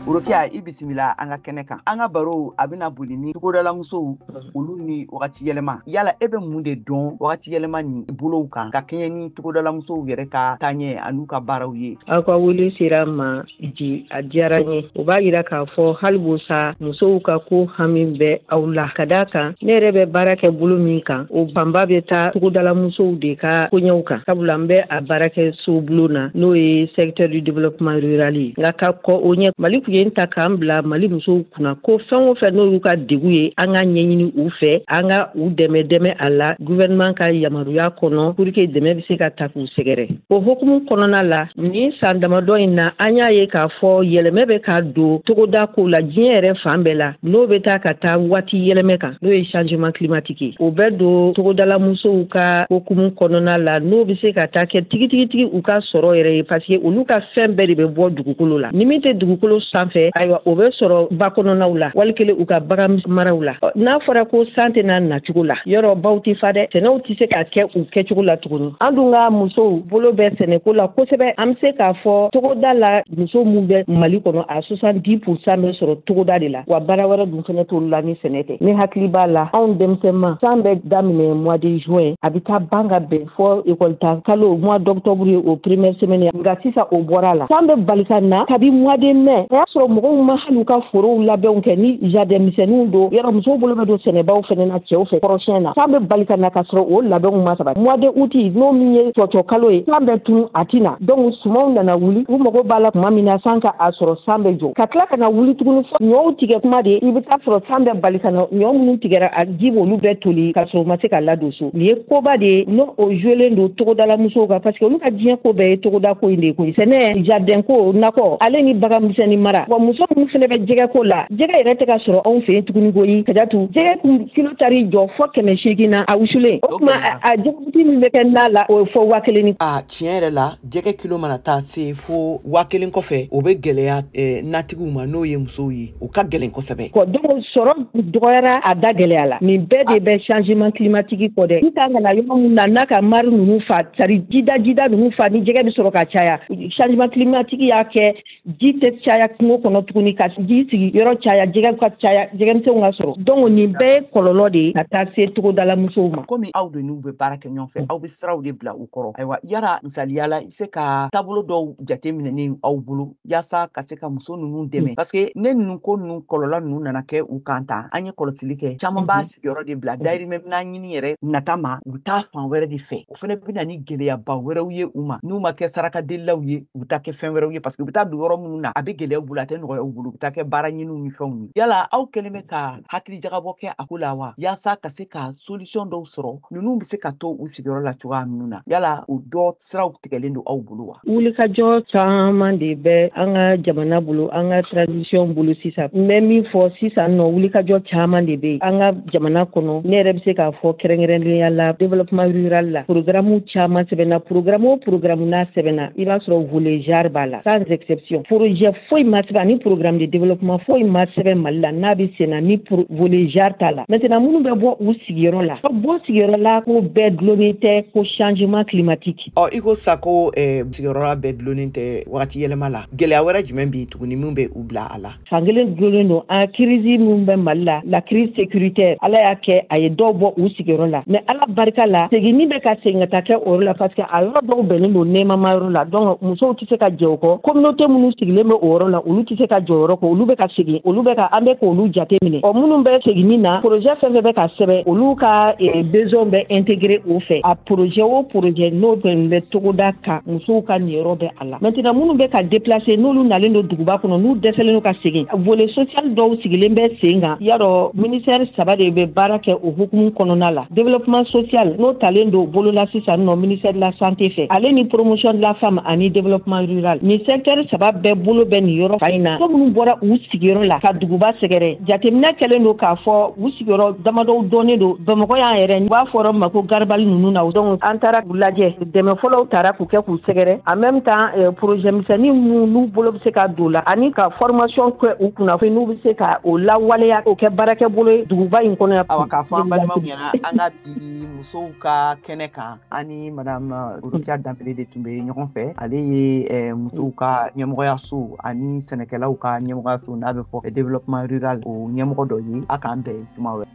Rokiya i bisimila an ka kɛnɛ kan an ka baro a bɛna boli ni togodalamusow olu ni wagati yɛlɛma yala e bɛ mun de dɔn wagati yɛlɛma ni bolow kan ka kɛɲɛ ni togodalamusow yɛrɛ ka taaɲɛ an'u ka baaraw ye aw ka wele sera n ma di a diyara n ye o b'a yira k'a fɔ hali bi sa musow ka ko hami bɛ aw la ka d'a kan ne yɛrɛ bɛ baara kɛ bolo min kan o fanba bɛ taa togodalamusow de ka koɲɛw kan sabula n bɛ a baara kɛ sobulon na n'o ye secteur du développement rural ye nka ka kɔn o ɲɛ mali tun ye n ta k'an bila mali musow kunna ko fɛn o fɛn n'olu ka degun ye an ka ɲɛɲini u fɛ an ka u dɛmɛ dɛmɛ a la gouvernement ka yamaruya kɔnɔ pour que dɛmɛ bɛ se ka taa k'u sɛgɛrɛ o hokumu kɔnɔna la Nin san damadɔ in na an y'a ye k'a fɔ yɛlɛmɛ bɛ ka don togoda kow la diɲɛ yɛrɛ fan bɛɛ la n'o bɛ taa ka taa waati yɛlɛmɛ kan n'o ye changement climatique ye o bɛ don togodala musow ka hokumu kɔnɔna la n'o bɛ se ka taa kɛ tigitigitigi u ka sɔrɔ yɛrɛ ye parce que olu ka fɛn bɛɛ de bɛ bɔ dugukolo la ni min tɛ dugukolo sanfɛ ayiwa o bɛ sɔrɔ ba kɔnɔnaw la wali kelen u ka bagan maraw la n'a fɔra ko san tɛ na nacogo la yɔrɔ baw tɛ fa dɛ sɛnɛw tɛ se ka kɛ u kɛcogo la tuguni an dun ka musow bolo bɛ sɛnɛko la kosɛbɛ an bɛ se k'a fɔ togoda la muso minnu bɛ mali kɔnɔ a soixante-dix pour cent bɛ sɔrɔ togoda de la wa baara wɛrɛ dun fana t'olu la ni sɛnɛ tɛ ne hakili b'a la anw denmisɛnma san bɛ daminɛ mois de juin a bɛ taa ban ka bɛn fɔ école ta kalo mois d'octobre ye o première semaine nka sisan o bɔra a la san bɛ bali ka na kabi mois de mai o y'a sɔrɔ mɔgɔw ma hali u ka forow labɛnw kɛ ni jardin misɛnninw don yɔrɔ musow bolo bɛ don sɛnɛbaw fana na cɛw fɛ kɔrɔsiyɛn na san bɛ bali ka na ka sɔrɔ o labɛnw ma sabati mois de août n'o min ye cɔcɔ kalo ye san bɛ tunun a tɛ na donc sumanw nana wuli u mago b'a la tuma min na san ka a sɔrɔ san bɛ jɔ ka tila ka na wuli tuguni fɔ ɲɔw tigɛ tuma de i bɛ t'a sɔrɔ san bɛ bali ka na ɲɔ minnu tigɛra a ji b'olu bɛɛ toli ka sɔrɔ u ma se ka ladon so nin ye koba de ye n'o o jouelen don togodalamusow kan parce que olu ka diɲɛ ko bɛɛ ye togoda ko in de ye koyi sɛnɛ jardin ko nakɔ ale ni bagan misɛnni mara wa muso minnu fana bɛ jɛgɛ ko la jɛgɛ yɛrɛ tɛ ka sɔrɔ anw fɛ yen tuguni koyi ka datu jɛgɛ kun kilo taar'i jɔ fɔ kɛmɛ seegin na a wusulen o tuma a jɛgɛbuti min bɛ kɛ na la o fɔ waa kelen ni a tiɲɛ yɛrɛ la jɛgɛ kilo mana taa se fo waa kelen kɔfɛ o bɛ gɛlɛya eh, natigiw ma n'o ye musow ye o ka gɛlɛn kosɛbɛ kɔ donc sɔrɔ dɔgɔyara a da gɛlɛyala nin bɛɛ de bɛ changement climatique kɔ dɛ n kan ka na yɔrɔ min na n'a ka mari ninnu fa sari jida jida ninnu fa ni jɛgɛ bɛ sɔrɔ ka caya changement climatique y'a kɛ ji tɛ caya kungo kɔnɔ tuguni ka ji sigi yɔrɔ caya jɛgɛ ka caya jɛgɛmisɛnw ka sɔrɔ donc nin bɛɛ ye kɔlɔlɔ de ye ka taa se togodala musow ma komi aw de n'u bɛ baara kɛ ɲɔgɔn fɛ aw bɛ siraw de bila u kɔrɔ ayiwa yara misaliya la i bɛ se ka taabolo dɔw jate minɛnen aw bolo yaasa ka se ka muso ninnu dɛmɛ parce que ni ninnu ko ninnu kɔlɔlɔ ninnu nana kɛ u kan tan an ye kɔlɔsili kɛ caman b'a sigiyɔrɔ de bila dayirimɛ minan ɲini yɛrɛ nata ma u bɛ taa fan wɛrɛ de fɛ o fana bɛ na ni gɛlɛyaba wɛrɛw ye u ma n'u ma kɛ sarakadelilaw ye u bɛ taa kɛ fɛn wɛrɛw ye parce que u bɛ taa don yɔrɔ minnu na a bɛ gɛlɛya u bolo a tɛ nɔgɔya u bolo u bɛ taa kɛ baaraɲiniw ni fɛnw ye yala aw kɛlen bɛ ka hakili jagabɔ kɛ a ko la wa yaasa ka se ka solution dɔw sɔrɔ ninnu bɛ se ka to u sigiyɔrɔ la cogoya minnu na yala o dɔ siraw tigɛlen don aw bolo wa Wulikajɔ caman de bɛ an ka jamana bolo an ka transition bolo sisan n bɛ min fɔ sisan nɔ wulikajɔ caman de bɛ an ka jamana kɔnɔ ne yɛrɛ bɛ se k'a fɔ kɛrɛnkɛrɛnlenya la développement rural la programme caman sɛbɛnna programme o programme n'a sɛbɛnna i b'a sɔrɔ volet genre b'a la sans exception projet foyi ma sɛbɛn ani programme de développement foyi ma sɛbɛn mali la n'a bɛ senna ni volet genre t'a la maintenant minnu bɛ bɔ u sigiyɔrɔ la bɔ sigiyɔrɔ la ko bɛɛ dulonin tɛ ko changement climatique ɔ i ko sa ko eh, sigiyɔrɔla bɛɛ dulonnen tɛ wagati yɛlɛma la gɛlɛya wɛrɛ jumɛn bɛ tuguni min bɛ u bila a la fan kelen dulonnen don an ka crise min bɛ mali la la crise sécuritaire ala y'a kɛ a ye dɔw bɔ u sigiyɔrɔ la mais ala barika la seginni bɛ ka segin ka taa kɛ o yɔrɔ la parce que a yɔrɔ dɔw bɛnnen don nɛɛmama yɔrɔ la donc musow tɛ se ka jɛ o kɔ communauté minnu sigilen bɛ o yɔrɔ la olu tɛ se ka jɛ o yɔrɔ kɔ olu bɛ ka segin olu bɛ ka an bɛ k'olu jate minɛ ɔ minnu bɛ seginni na projet fɛn fɛn bɛ ka sɛbɛn olu ka eh, besoin bɛ intégrer o fɛ a projet o projet n'o fɛn bɛ togoda kan musow ka niyɔrɔ bɛ a la maintenant minnu bɛ ka déplacer n'olu nalen don duguba kɔnɔ n'u dɛsɛlen don ka segin volet social dɔw sigilen bɛ sen kan y'a dɔn ministère saba de bɛ baara kɛ o hukumu kɔnɔna la Développement social n'o talen don bolo la sisan nɔ ministère de la santé fɛ ale ni promotion de la femme ani développement rural nin secteur saba bɛɛ bolo bɛ nin yɔrɔ fan in na ko minnu bɔra u sigiyɔrɔ la ka duguba sɛgɛrɛ jateminɛ kɛlen don k'a fɔ u sigiyɔrɔ damadɔw dɔnnen don bamakɔ yan yɛrɛ u b'a fɔ a ma ko garabali ninnu na donc an taara u lajɛ dɛmɛ fɔlɔw taara k'u kɛ k'u sɛgɛrɛ en même temps euh, projet misɛnnin minnu n'u bolo bɛ se ka don la ani ka formation kɛ u kunna fo n'u bɛ se ka o lawaleya k'o kɛ baarakɛ bolo ye duguba in kɔnɔ yan. awa k'a fɔ an balimaw ɲɛna an ka bi musow ka kɛnɛ kan an ni madame euh, Rokia Danbele de tun bɛ ɲɔgɔn fɛ ale ye euh, musow ka ɲɛmɔgɔyaso ani sɛnɛkɛlaw ka ɲɛmɔgɔyaso n'a bɛ fɔ développement rural o ɲɛmɔgɔ dɔ ye a k'an bɛn tuma wɛrɛ.